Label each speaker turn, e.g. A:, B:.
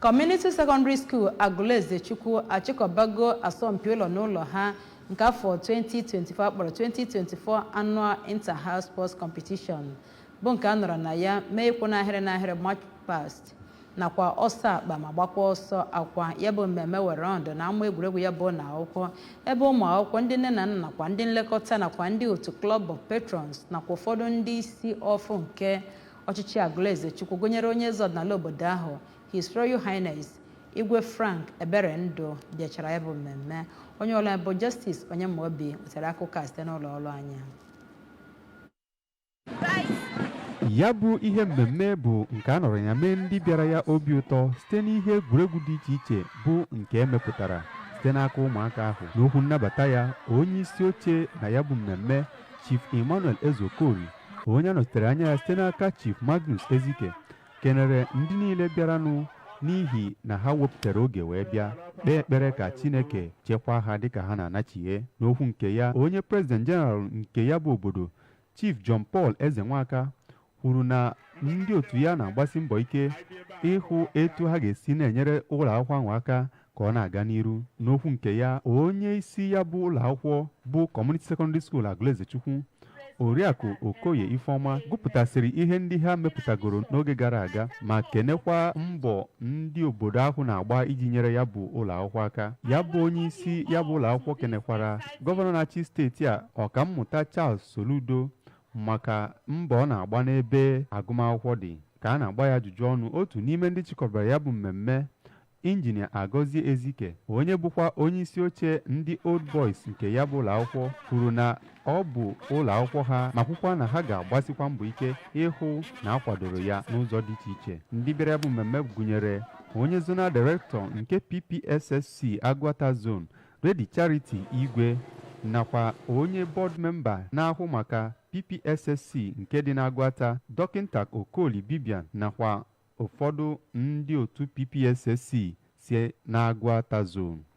A: Community Secondary School Agụlezechukwu achịkọbago asọmpi ụlọ n'ụlọ ha nke afọ 2024 a kpọrọ 2024 Annual Inter-House Sports Competition bụ nke a nọrọ na ya mee ịkwụ n'ahịrị n'ahịrị march past nakwa ọsọ akpa ma gbakwa ọsọ akwa ya bụ mmemme were ọnọdụ na ama egwuregwu ya bụ ụlọ akwụkwọ ebe ụmụ akwụkwọ ndị nne na nna nakwa ndị nlekọta nakwa ndị otu Club of Patrons nakwa ụfọdụ ndị isi ọfụ nke ọchịchị Agụlezechukwu gụnyere onye eze ọdịnala obodo ahụ His Royal Highness Igwe Frank Eberendụ bịachara ya bụ mmemme onye ọlụ bụ Justice Onyemaobi wetara akụkọ a site n'ụlọ ọrụ anyị
B: ya bụ ihe mmemme bụ nke a nọrọ na ya mee ndị bịara ya obi ụtọ site n'ihe egwuregwu dị iche iche bụ nke e mepụtara site n'aka ụmụaka ahụ n'okwu nnabata ya onye isi oche na ya bụ mmemme Chief Emmanuel Ezeokoli onye a nọchitere anya ya site n'aka Chief Magnus Ezike kenere ndị niile bịaranụ n'ihi na ha wepụtara oge wee bịa kpee ekpere ka Chineke chekwaa ha dịka ha na-anachighe n'okwu nke ya onye President General nke ya bụ obodo Chief John Paul Ezenwaka kwuru na ndị otu ya na-agbasi mbọ ike ịhụ etu ha ga-esi na-enyere ụlọ akwụkwọ ahụ aka ka ọ na-aga n'iru n'okwu nke ya onye isi ya bụ ụlọ akwụkwọ bụ Community Secondary School Agụlezechukwu Oriakụ Okoye Ifeọma gụpụtasịrị ihe ndị ha mepụtagoro n'oge gara aga ma kenekwa mbọ ndị obodo ahụ na-agba iji nyere ya bụ ụlọ akwụkwọ aka ya bụ onye isi ya bụ ụlọ akwụkwọ kenekwara gọvanọ na-achị steeti a Ọkammụta Charles Soludo maka mbọ ọ na-agba n'ebe agụmakwụkwọ dị ka a na-agba ya ajụjụ ọnụ otu n'ime ndị chịkọbara ya bụ mmemme injinia Agọzie Ezike onye bụkwa onye isi oche ndị Old Boys nke ya bụ ụlọakwụkwọ kwuru na ọ bụ ụlọakwụkwọ ha ma kwukwa na ha ga-agbasikwa mbọ ike ịhụ na a kwadoro ya n'ụzọ dị iche iche ndị bịara ya bụ mmemme gụnyere onye Zonal Director nke PPSSC Agụata Zone Lady Charity Igwe nakwa onye board member na-ahụ maka PPSSC nke dị n'Agụata Dọkịnta Okoli Bibian nakwa ụfọdụ ndị otu PPSSC si n'Agụata zone.